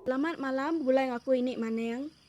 Selamat malam, bulai ngaku ini maning.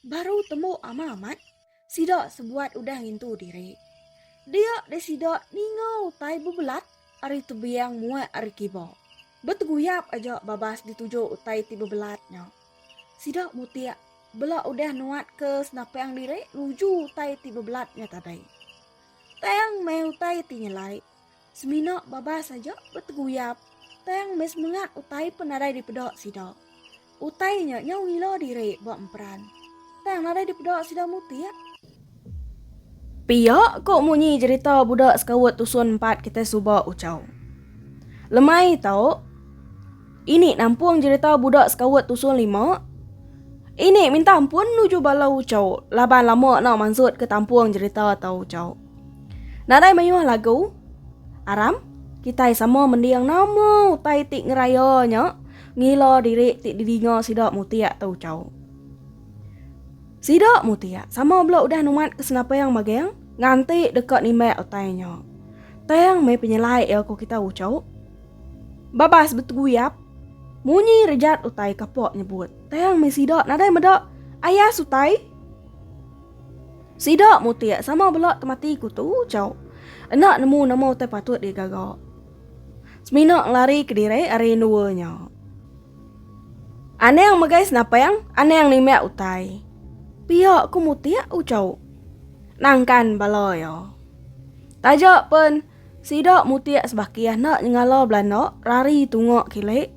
Baru temu ama amat, sida sebuat udah ngintu diri. Dia deh sida ninga utai bebelat ari tebing muat ari kiba. Beteguyap aja babas dituju utai ti bebelat nya. Sida mutik bela udah nuat ke senapang diri nuju utai ti bebelat nya tadai. Tang meh utai ti nyelai. Semina babas aja beteguyap tang meh semengat utai pun nadai dipeda sida. Utai nya nyau ngila diri ba emperan tang nadai dipeda sida mutik. Pia ko munyi jerita budak sekaut tusun empat kitai suba Uchau. Lemai tau ini nampung jerita budak sekaut tusun lima ini minta ampun nuju bala Uchau laban lama enda mansut ke tampung jerita tau Uchau. Nadai mayuh lagu aram kitai sama mending nama utai ti ngeraya nya ngila diri ti didinga sida mutik tu chau. Sida mutik sama bela udah numat ke senapang magang nganti deka nimbak utai nya. Tang meh penyelai iya ku kita uchu. Babas betguyap munyi rejat utai kapak nyebut tang meh sida nadai meda ayas utai. Sida mutik sama bela temati ku tu Chau. Enda nemu nama utai patut digaga. Semina ngelari kediri ari endua nya. Anang megai senapang, anang nimbak utai. Pia ku mutik u Chau. Nangkan bala iya. Taja pen sida mutik sebakih enda nyengala belanda rari tunga kilik.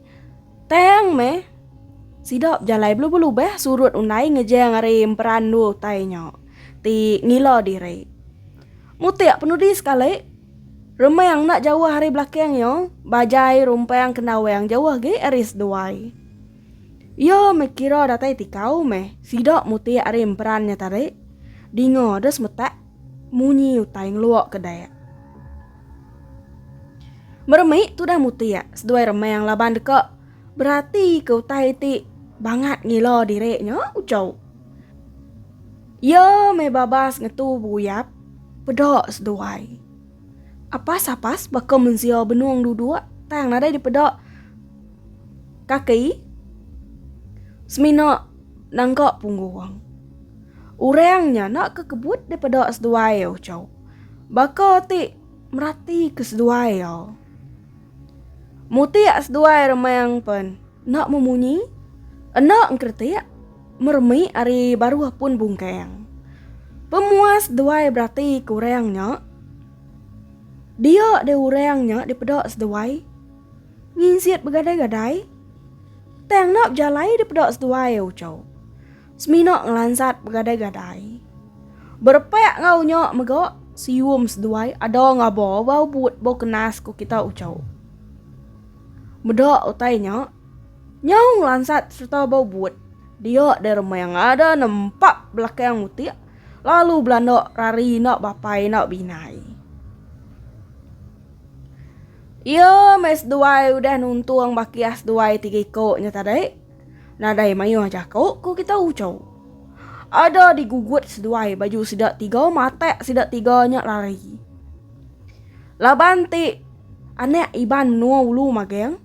Tang meh. Sida bejalai belubah-lubah surut undai ngejang ari Emperan Endur utai nya ti ngila diri. Mutik penudi sekali, Remang enda jauh ari belakang iya, Bajai rumpang kena awang jauh agi ari seduai. Iya meh kira datai tikau meh sida mutik ari Emperan nya tadi. Dinga deh semetak. Munyi utai ngelua ke Dayak. Meremi tudah mutik seduai remang laban deka berati ke utai ti bangat ngila diri nya ujau. Iya meh babas ngetu beguyap peda seduai. Apas apas baka mensia benung duduk tang nadai dipeda kaki semina nangka punggung. Orang nya enda ke kebut daripada seduai uchu. Baka ti merati ke seduai au. Mutik seduai remang pen enda memunyi, enda engkeretik, meremi ari baruh pun bungkang. Pemuas seduai berati ke orang nya, dia deh orang nya dipeda seduai nginsit begadai-gadai tang enda bejalai dipeda seduai uchu. Semina ngelansat begadai-gadai. Berepak enggau nya mega, sium seduai ada ngaba ba ubut ba kenas ku kita uchu. Meda utai nya, nyau ngelansat sereta ba ubut, dia dei remang ada nempa belakang mutik lalu belanda rari enda bapai enda beinai. Iya meh seduai udah nuntung bakih seduai tiga iko nya tadi. Nadai mayuh jaku ku kita uchu. Ada digugut seduai baju sida tiga matak sida tiga nya lari. Laban ti anak Iban menua ulu magang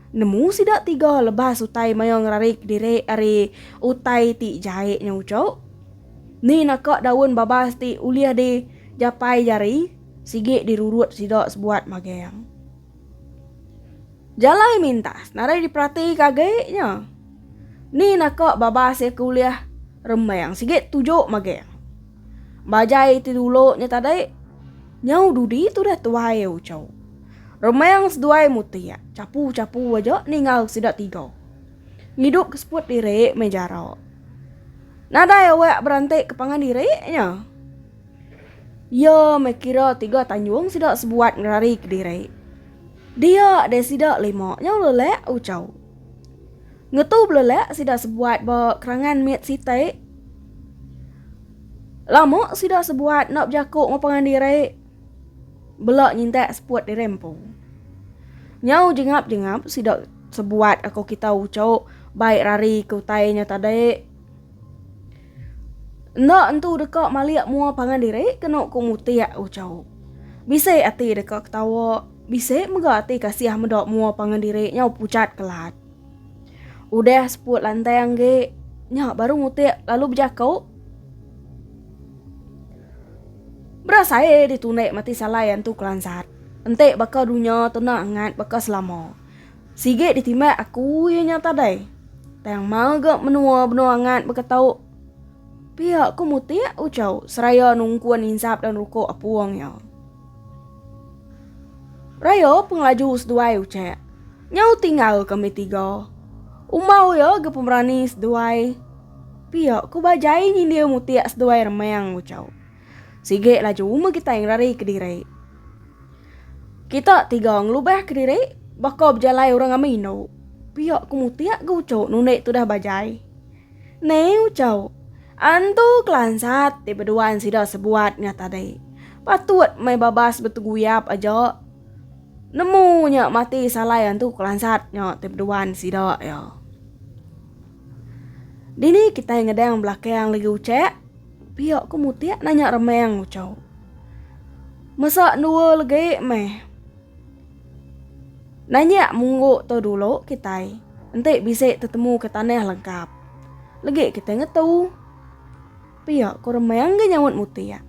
nemu sida tiga lebas utai maya ngerarik diri ari utai ti jai nya uchu. Ni naka daun babas ti ulih di japai jari sigi dirurut sida sebuat magang. Jalai mintas nadai diperatika agi nya. Ni naka babas iya ke ulih rembang sigi tuju maging. Ba jai ti dulu nya tadi, nyau dudi tudah tuai iya uchu. Rembang seduai mutik, chapu-chapu aja ninga sida tiga. Ngidup ke seput diri meh jara. Nadai awak beranti ke pangan diri nya. Iya meh kira tiga tanjung sida sebuat ngerari kediri. Dia deh sida lima nyau lelak uchau. Ngetu belelak sida sebuat ba kerangan mit siti. Lama sida sebuat enda bejaku enggau pangan diri. Bela nyintak seput diri empu. Nyau jengap-jengap sida sebuat aku kita uchau bai rari ke utai nya tadi. Enda entu deka malik mua pangan diri kenu ku mutik uchu. Bisi ati deka ketawa, bisi mega ati kasih meda mua pangan diri nyau pucat kelat. Udah seput lantang agi, nya baru mutik lalu bejaku. Berasai ditundi mati salai antu kelansat. Enti baka dunya tenang angat baka selama. Sigi ditimbak aku iya nya tadai. Tang maga menua benua angat baka tau. Pia ku mutik ucau seraya nungkun insap dan ruko apung iya. Raya pengelaju seduai ucak. Nyau tinggal kami tiga. Umbau iya ga pemerani seduai. Pia ku ba jai nyindir mutik seduai remang ucau. Sigi laju meh kitai ngerari kediri. Kita tiga ngelubah ke diri baka bejalai orang ame indu. Pia ku mutik ga uchu nunik tudah bajai. Ne uchu, antu kelansat ti beduan sida sebuat ngah tadi. Patut meh babas beteguyap aja nemu nya mati salai antu kelansat nya ti beduan sida iya. Dini kitai ngedang belakang legi ucha? Pia ku Mutik nanya Remang ucau. Mesa dua legi meh. Nanya munggu tu dulu kitai. Enti bisi tetemu ke tanah lengkap. Legi kitai ngetu. Pia ku Remang ga nyaut Mutik.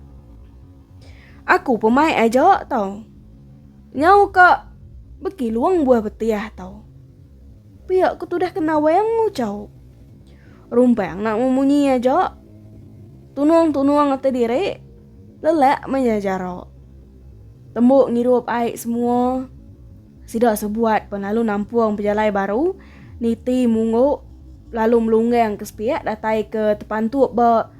Aku pun mai aja tau. Nyau ka beki luang buah betih tau. Pia ku tudah ke Nawang ucau. Rumpang nak memunyi aja. Tunung-tunung ati diri, lelak maya jara. Tembu ngirup ai semua, sida sebuat pen lalu nampung pejalai baru niti munggu lalu melunggang ke sepiak datai ke tepantup ba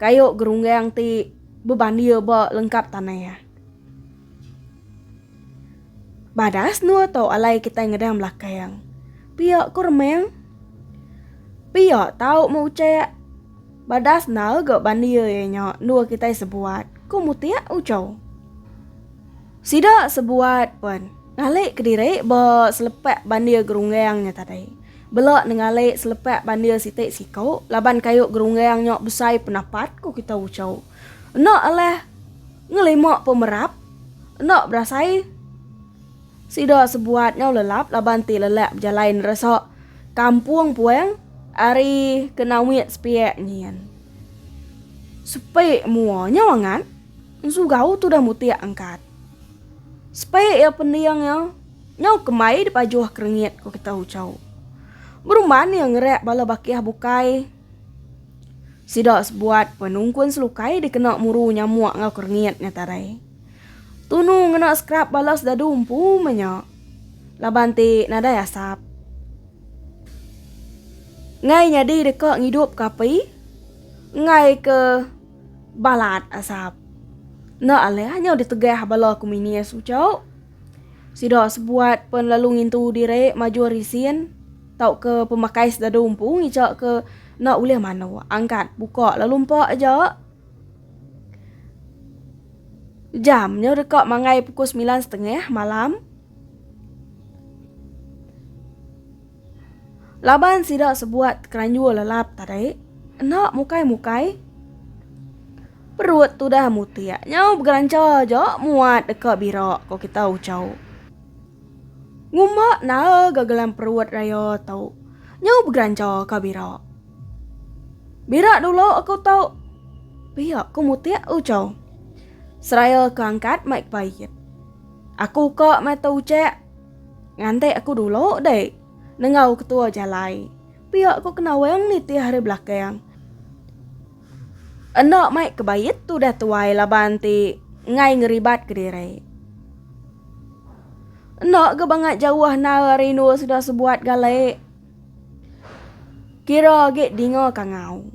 kayu gerunggang ti bebandir ba lengkap tanah. Badah senua tu alai kitai ngedang belakang. Pia ku Remang. Pia tau meh ucak. Badah senau ga bandir iya nya endur kitai sebuat, ku Mutik uchau. Sida sebuat pen ngalik kediri ba selepak bandir gerunggang nya tadi. Bela ne ngalik selepak bandir siti siku laban kayu gerunggang nya besai penapat, ku kitai uchau. Enda alah ngelima pemerap, enda berasai sida sebuat nyau lelap laban ti lelak bejalai neresa kampung puang ari kena mit sepiak nyin. Sepi mua nyau angat, ensugau tudah mutik angkat. Sepi iya pending iya, nyau kemai dipajuh kerengit, ku kita Ucau. Berumban iya ngerak bala bakih bukai. Sida sebuat penungkun selukai dikena muru nyamuk enggau kerengit ngetarai. Tunu ngena skrap bala sedadu empu meh nya. Laban ti nadai asap. Ngai nyadi deka ngidupka api enggai ke balat asap. Enda alih nyau ditegah bala komunis uchu. Sida sebuat pen lalu ngintu diri majur isin tauka pemakai sedada umpu ngica ke enda ulih manu angkat buka lalu empa aja jam nya deka mangai pukul semilan setengah malam laban sida sebuat keranjur lelap tadi enda mukai-mukai. Perut tudah mutik nyau begeranca aja muat deka bira ko kita Uchau. Ngumba na'a ga gelam perut raya tu nyau begeranca ka bira. Bira dulu aku tu. Pia ko mutik Uchau. Seraya ke angkat mai kepait. Aku ka mai tu Ucek. Nganti aku dulu dek nengau ketua jalai. Pia ko kenawang nitih ari belakang. Enda mai kebait tudah tuai laban ti ngai ngeribat kediri. Enda ga bangat jauh nal rindu sudah sebuat gali. Kira agi dinga kangau.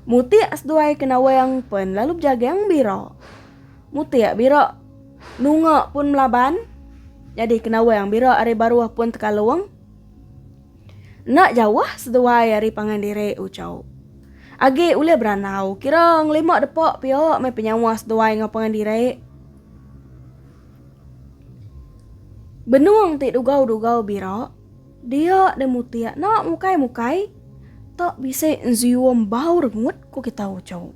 Mutik seduai ke nawang pen lalu bejagang bira. Mutik bira nunga pun melaban. Jadi ke nawang bira ari baruh pun tekalung. Enda jauh seduai ari pangan diri Uchau. Agi ulih berandau kira ngelima depa pia meh penyawa seduai enggau pangan diri. Benung ti dugau-dugau bira, dia deh mutik enda mukai-mukai tak bisi nzium bau rengut ku kita Uchau.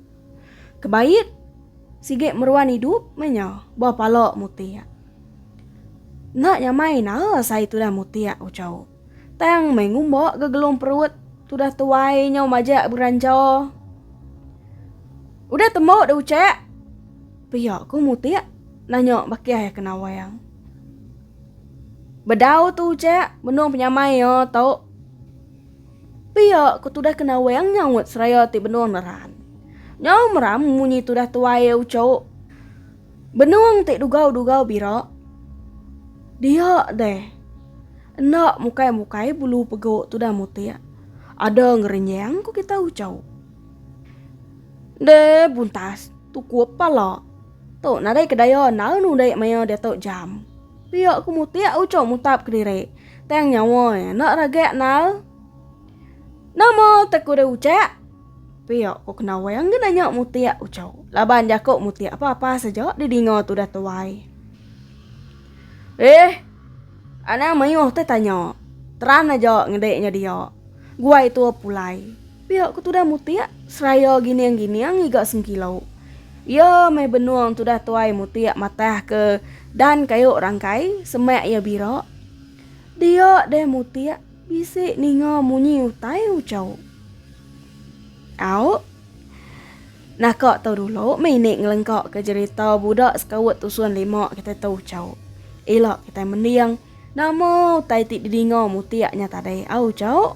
Kebaik sigi meruan idup meh nya ba pala mutik. Enda nyamai nara sai tudah mutik, ucau. Tang meh ngumba ke gelung perut tudah tuai nyau majak begeranja. Udah tembu dah ucak? Pia ku mutik nanya bakih ke Nawang. Bedau tu ucak benung penyamai iya tu. Pia ku tudah ke Nawang nyaut seraya ti benung neran. Nyau meram munyi tudah tuai, ucau. Benung ti dugau-dugau bira. Dia deh. Enda mukai-mukai bulu pegu tudan mutik. Ada ngerenjang ku kita ucau. Deh buntas tukup pala. Tu nadai ke daya enda nudik maya diatu jam. Pia ku mutik ucau mutap kediri. Tang nyawa iya enda ragak nal. Nama te ku deh ucak? Pia ko Kenawai engga nanya Mutik Uchow laban jako Mutik apa-apa saja di dinga tudah tuai. Eeh. Anang mayuh te tanya. Teran aja ngede nya dia. Guai tua pulai. Pia ko tudah Mutik seraya gining-gining ngiga sengkilo. Iya meh benung tudah tuai Mutik matah ke dan kayu rangkai semak iya bira. Dia deh Mutik. Bisi ninga munyi utai uco. Au. Naka tu dulu meh ini ngelengka ke jerita budak sekaut tusun lima kitai tu uco. Ila kitai mending nama utai ti didinga mutik nya tadi au uco.